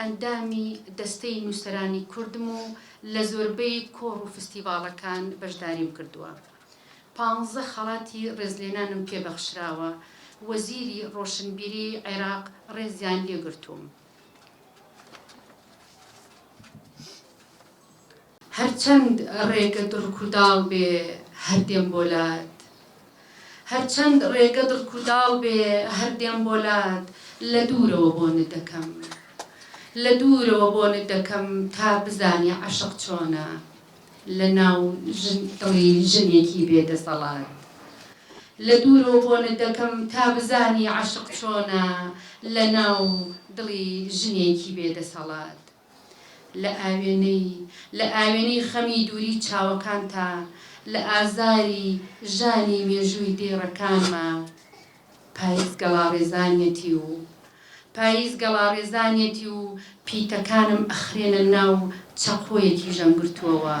ئەندامی دەستەی نووسەرانی کوردم و لە زۆربەی کۆڕ و فستیڤاڵەکان بەشداریم کردووە. پانزە خەڵاتی ڕێزلێنانم پێ بەخشراوە. وەزیری ڕۆشنبیریی عێراق ڕێزیان لێ گرتووم. هەرچەند ڕێگە دڕکوداڵ بێ هەر دێم بۆ لات هەرچەند ڕێگە دڕکوداڵ بێ هەر دێم بۆ لات لە دوورەوە بۆنت دەکەم لە دوورەوە بۆنت دەکەم تا بزانی عەشق چۆنە لە ناو ژن دڵی ژنێکی بێ دەسەڵات لە دوورەوە بۆنت دەکەم تا بزانی عەشق چۆنە لە ناو دڵی ژنێکی بێ دەسەڵات. لە ئاوێنەی، لە ئاوێنەی خەمی دووری چاوەکانتا، لە ئازاری ژانی مێژووی دێڕەکانما. پایز گەڵاڕێزانیەتی و پایز گەڵاڕێزانیەتی و پیتەکانم ئەخرێنە ناو چەقۆیەکی ژەمگرتووەوە.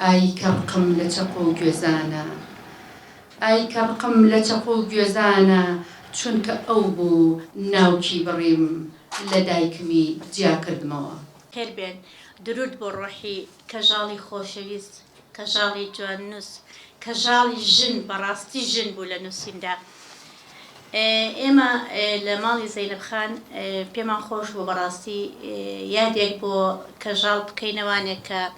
ئای کە ڕقم لە چەقۆ و گوێزانە. ئای کە ڕقم لە چەقۆ و گوێزانە چونکە ئەو بوو ناوکی بڕیم. لە دایکمی جیا کردمەوە. خێر بێن درود بۆ ڕۆحی کەژاڵی خۆشەویست کەژاڵی جوان نوس کەژاڵی ژن بەڕاستی ژن بوو لە نوسیندا ئێمە لە ماڵی زەینەب خان پێمان خۆش بوو بەڕاستی یادێک بۆ کەژاڵ بکەینە وانێک کە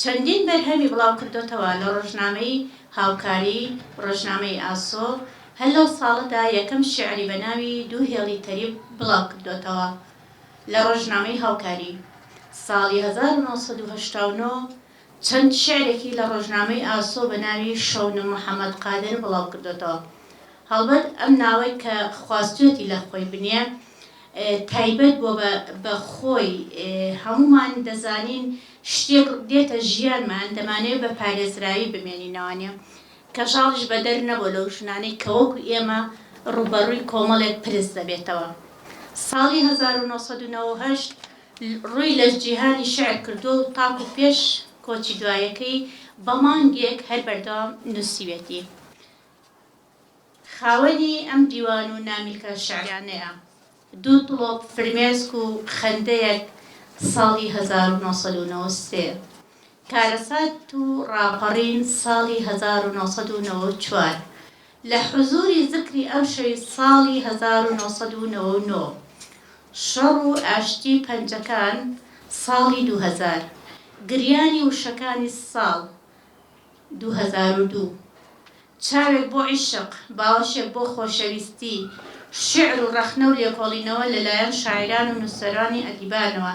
چەندین بەرهەمی بڵاوکردۆتەوە لە ڕۆژنامەی، هاوکاری، ڕۆژنامەی، ئاسۆ، هەر لەو ساڵەدا یەکەم شیعری بە ناوی، دوو هێڵی تەریب، بڵاوکردۆتەوە لە ڕۆژنامەی، هاوکاری، ساڵی هەزار و نۆ سەد و هەشتا و نۆ چەند شیعرێکی لە ڕۆژنامەی، ئاسۆ، بە ناوی، شەونم محەمەد قادر، بڵاوکردۆتەوە هەڵبەت ئەم ناوەی کە خواستوێتی لە خۆی بنێ تایبەت بۆ بە خۆی هەموومان دەزانین شتێک دێتە ژیانمان دەمانەوێت بە پارێزراوی بمێنینەوانە کەژاڵیش بەدەر نەبوو لەو ژنانەی کە وەکو ئێمە ڕووبەڕووی کۆمەڵێک پرس دەبێتەوە ساڵی هەزار و نۆ سەد و نەوە و هەشت ڕووی لە جیهانی شعر کردووە و تاکو پێش کۆچی دوایەکەی بە مانگێک هەر بەردەوام نووسیوێتی. خاوەنی ئەم دیوان و نامیلکە شیعریانەیە، دوو تڵۆپ فرمێسک و خەندەیەک ساڵی هەزار و نۆ سەد و نەوەد و سێ، کارەسات و ڕاپەڕین ساڵی هەزار و نۆ سەد و نەوەد و چوار، لە حزووری زکری ئەمشەوی ساڵی هەزار و نۆ سەد و نەوەد و نۆ، شەڕ و ئاشتی پەنجەکان ساڵی دوو هەزار، گریانی وشەکانی ساڵ، دوو هەزار و دوو. چاوێک بۆ عیشق، باوەشێک بۆ خۆشەویستی، شیعر و ڕەخنە و لێکۆڵینەوە لە لایەن شاعیران و نووسەرانی ئەدیبانەوە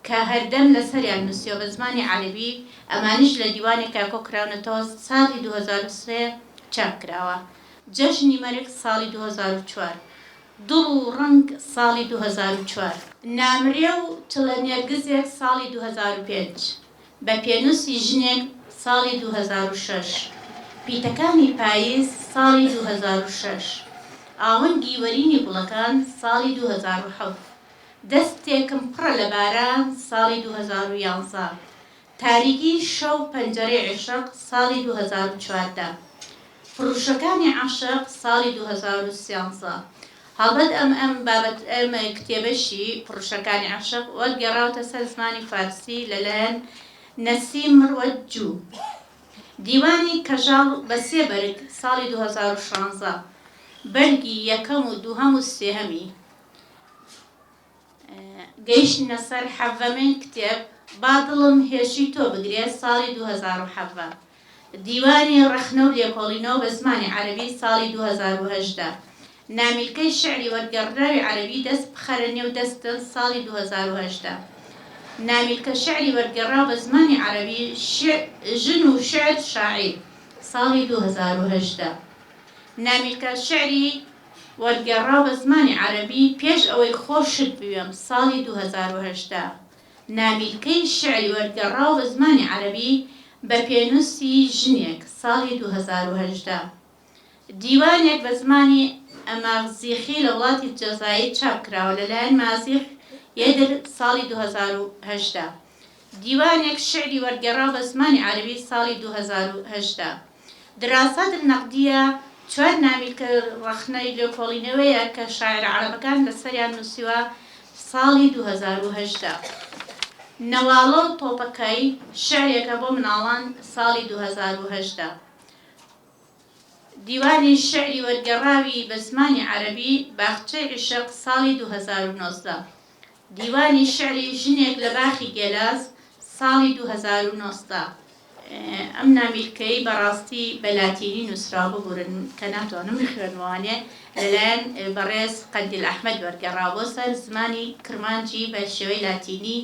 کە هەردەم لە سەریان نووسیوە بە زمانی عەرەبی، ئەمانیش لە دیوانێکا کۆ کراونەتەوە ساڵی دوو هەزار و سێ چاپ کراوە، جەژنی مەرگ ساڵی دوو هەزار و چوار. دڵ و ڕەنگ ساڵی دوو هەزار و چوار. نامرێ و چڵە نێرگزێک ساڵی دوو هەزار و پێنج. بە پێنووسی ژنێک ساڵی دوو هەزار و شەش، پیتەکانی پایز ساڵی دوو هەزار و شەش، ئاونگی وەرینی گوڵەکان ساڵی دوو هەزار و حەوت، دەستێکم پڕە لە باران ساڵی دوو هەزار و یازدە، تاریکی شەو پەنجەرەی عیشق ساڵی دوو هەزار و چواردە، فڕوشەکانی عەشق ساڵی دوو هەزار و سیانزە، هەڵبەت ئەم ئەم بابەت ئەم کتێبەشی، پڕوشەکانی عەشق، وەرگێڕاوەتە سەر زمانی فارسی لە لایەن، نەسیم مروەت جوو. دیوانی، کەژاڵ، بە سێ بەرگ، ساڵی دوو هەزار و شانزە، بەرگی یەکەم و دووهەم و سێهەمی، گەیشتینە سەر حەڤەمین کتێب با دڵم هێرشی تۆ بگرێ ساڵی دوو هەزار و حەڤە، دیوانی ڕەخنە و لێکۆڵینەوە بە زمانی عەرەبی ساڵی دوو هەزار و هەژدە، نامیلکەی شیعری وەرگێڕدراوی عەرەبی دەست بخەرە نێو دەستن ساڵی دوو هەزار و هەژدە، نامیلکە شیعری وەرگێڕراو بە زمانی عەرەبی ژن و شیعر شاعیر ساڵی دوو هەزار و هەژدە، نامیلکە شیعری وەرگێڕاوە بە زمانی عەرەبی پێش ئەوەی خۆشت بوێم ساڵی دوو هەزار و هەژدە نامیلکەی شیعری وەرگێڕاوە بە زمانی عەرەبی بە پێنووسی ژنێک ساڵی دوو هەزار و هەژدە دیوانێک بە زمانی ئەماغزیخی لە وڵاتی جەزائیر چاپ کراوە لەلایەن مازیح یەدر ساڵی دوو هەزار و هەژدە دیوانێک شیعری وەرگێڕا بە زمانی عەرەبی ساڵی دوو هەزار و هەژدە. دراسات النقدیە چوار نامی کە ڕەخنەی لێکۆڵینەوەیە کە شاعیرە عەرەبەکان لەسەریان نووسیوە ساڵی دوو هەزار و هەژدە. نەواڵە و تۆپەکای، شیعرێکە بۆ مناڵان ساڵی دوو هەزار و هەژدە. دیوانی شیعری وەرگێڕاوی بە زمانی عەرەبی باغچەی عیشق ساڵی دوو هەزار و نۆزدە. دیوانی شیعری ژنێک لە باخی گێلاس ساڵی دوو هەزار و نۆزدە. ئەم نامیلکەی بەڕاستی بە لاتینی نووسراوە ببورن کە ناتوانم بخوێنمەوانێ لەلایەن بەڕێز قەندیل ئەحمەد وەرگێڕاوە بۆ سەر زمانی کرمانجی بە شێوەی لاتینی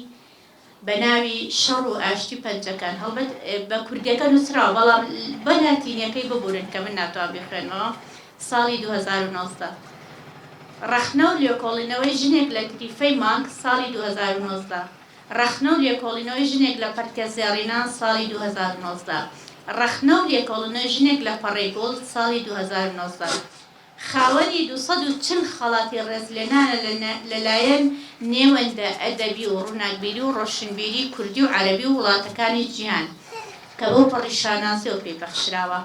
بە ناوی شەڕ و ئاشتی پەنجەکان هەڵبەت بە کوردیەکە نوسراوە بەڵام بە لاتینیەکەی ببورن کە من ناتوان بیخوێنمەوە ساڵی دوو هەزار و نۆزدە ڕەخنە و لێکۆڵینەوەی ژنێک لە تریفەی مانگ ساڵی دوو هەزار و نۆزدە ڕەخنە و لێکۆڵینەوەی ژنێک لە پەرتکە زێڕینە ساڵی دوو هەزار و نۆزدە ڕەخنە و لێکۆڵینەوەی ژنێک لە پەڕەی گوڵ ساڵی دوو هەزار و نۆزدە خاوەنی دوو سەد و چل خەڵاتی ڕێزلێنانە لە لایەن نێوەندە ئەدەبی و ڕووناکبیری و ڕۆشنبیری کوردی و عەرەبی و وڵاتەکانی جیهان کە بەو پەڕی شانازیەوە پێی بەخشراوە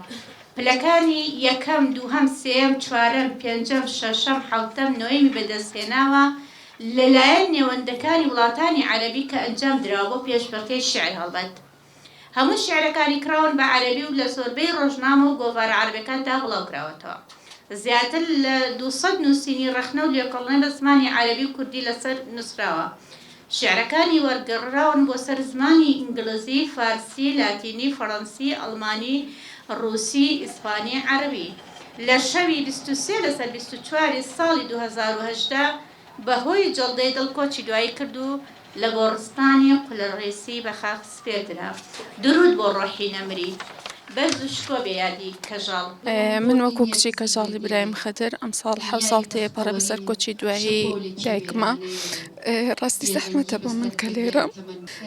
پلەکانی یەکەم، دووهەم، سێیەم، چوارەم، پێنجەم، شەشەم، حەوتەم، نۆیەمی بەدەست هێناوە لە لایەن نێوەندەکانی وڵاتانی عەرەبی کە ئەنجام دراوە بۆ پێشبڕکێی شیعر هەڵبەت. هەموو شیعرەکانی کراون بە عەرەبی و لە زۆربەی ڕۆژنامە و گۆڤارە عەرەبەکاندا بڵاو کراوەتەوە. زیاتر لە دوو سەد نووسینی ڕەخنە و لێکۆڵنە لە زمانی عەرەبی و کوردی لەسەر نووسراوە. شیعرەکانی وەرگڕراون بۆ سەر زمانی ئینگلزی، فارسی، لاتینی، فەڕەنسی، ئەڵمانی، ڕووسی، ئیسپانی، عەرەبی. لە شەوی بیست و سێ لەسەر بیست و چوار ی ساڵی دوو هەزار و هەژدە بە هۆی جەڵدەی دڵ کۆچی دوایی کرد و لە گۆڕستانی قولڕیسی بە خاک سپێردرا. دروود بۆ ڕۆحی نەمری. بەرز و شکۆ بێ یادی کەژاڵ. من وەکو کچی کەژاڵی برایم خدر ئەمساڵ حەوت ساڵ تێپەڕێ بەسەر کۆچی دوایی دایکما ڕاستی زەحمەتە بۆ من کە لێرەم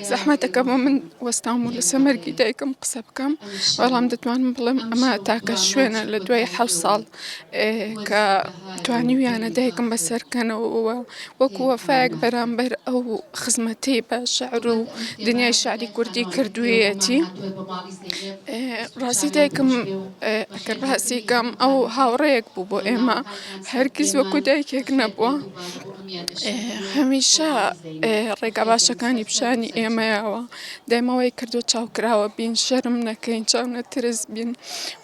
زەحمەتە کە بۆ من وەستام و لەسەر مەرگی دایکم قسە بکەم بەڵام دەتوانم بڵێم ئەمە تاکە شوێنە لە دوای حەوت ساڵ کە توانیویانە دایکم بەسەرکەنەوە و وەکو وەفایەک بەرامبەر ئەو خزمەتەی بە شعر و دنیای شاری کوردی کردوویەتی ڕاستی دایکم ئەگەر باسی کەم ئەو هاوڕەیەک بوو بۆ ئێمە هەرگیز وەکو دایکێک نەبووە هەمیشە ڕێگا باشەکانی پیشانی ئێمەیەوە دایمە وای کردوە چاو کراوە بین شەرم نەکەین چاو نەترس بین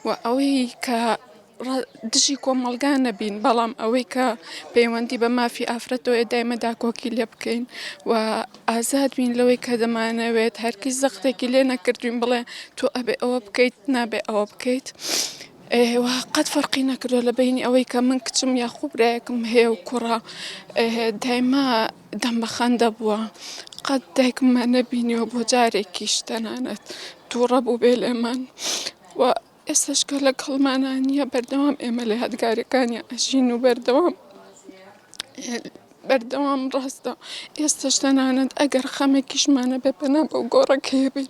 و ئەوەی کە دژی کۆمەڵگا نەبین بەڵام ئەوەی کە پەیوەندی بە مافی ئافرەتەوەی دایمە داکۆکی لێ بکەین و ئازاد بین لەوەی کە دەمانەوێت هەرکی زەختێکی لێ نەکردوین بڵێ تۆ ئەبێ ئەوە بکەیت نابێ ئەوە بکەیت. ئێوە قەت فەرقی نەکردوە لە بینی ئەوەی کە من کچم یاخوبرایەکم هەیە و کوڕە دایمە دەم بە خەندە بووە قەت دایکممان نەبینیوە بۆ جارێکیش تەنانەت تووڕە بوو بێ لێمان و ئێستشکە لە کەڵمانان نیە بەردەوام ئێمە لە یادگارەکانی ئەژین و بەردەوام بەردەوام ڕاستە ئێستش تەنانەت ئەگەر خەمێکیشمانە بێ پەنا بەو گۆڕەکەیە بین.